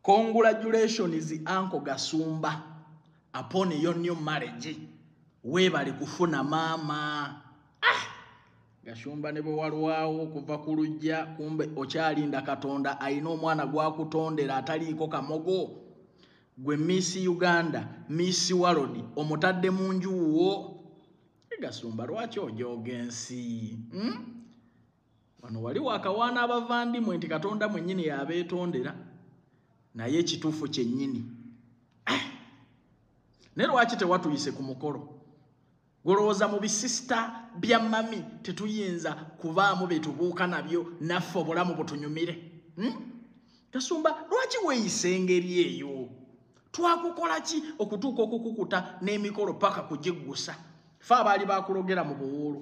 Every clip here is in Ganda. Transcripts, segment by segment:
Congratulations Uncle Gasumba upon your new marriage. Webale kufuna mama. Ah! Gashumba ne bwewalwawo okuva ku lujja kumbe okyalinda Katonda alina omwana gwakutondera ataliiko kamogo. Gwe Miss Uganda, Miss World omutadde mu nju wo. Gasumba lwaki ojooga ensi? Hmm? wano wali wakawaana abavandimwe nti katonda mwenyini yabeetondera naye ekituufu kyennyini eh! naye lwaki tewatuyise ku mukolo golowooza mu bisisita bya mami tetuyinza kubaamu betubuuka nabyo naffe obulamu butunyumire hmm? kasumba lwaki weeyisa engeri eyo twakukola ki okutuuka okukukuta n'emikolo paka kugiggusa fe abaali bakulogera mu buwuulu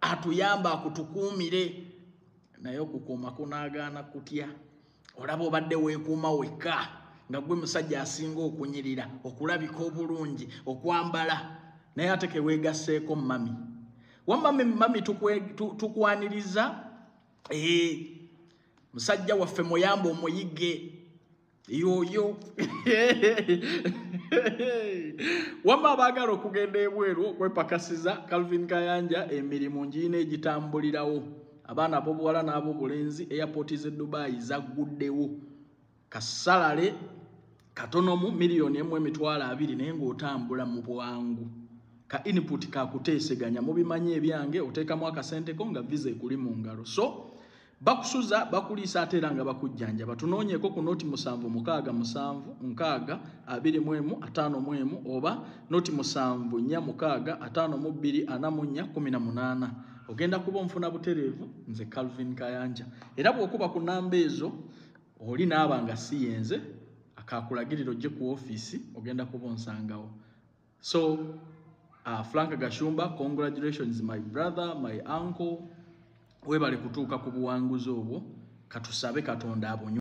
atuyamba akutukuumire naye okukuuma kunaagaana kutya olaba obadde weekuuma wekka nga gwe musajja asinga okunyirira okulabika obulungi okwambala naye ate keweegasseeko mami wamami mami tukwaniriza ee musajja waffe muyamba omuyige yoyo wamma abaagala okugenda ebweru okwepakasiza calvin kayanja emirimu ngiina egitambulirawo abaana abobuwala n'abo bulenzi airpoti ze dubayi zagguddewo kasalale katonomu miliyoni emu emitwalo abiri naye ng'otambula mu bwangu ka input kakuteeseganya mubimanyi ebyange oteekamu akasenteko nga visa ekuli mu ngalo so bakusuza bakuliisa ate era nga bakujjanjaba tunoonyeeko ku noti musanvu mukaaga musanvu nkaaga abiri mu emu ataano mu emu oba noti musanvu nnya mukaaga ataano mu bbiri ana mu nnya kumi na munaana ogenda kuba omufuna butereevu nze calvin kayanja era bw'okuba ku namba ezo oli naaba nga si yenze akaakulagirira ojje ku ofiisi ogenda kuba onsangawo So uh, Frank Gashumba, congratulations my brother, my uncle. Webale kutuuka ku buwanguzi obwo. Katusabe Katonda abunyo.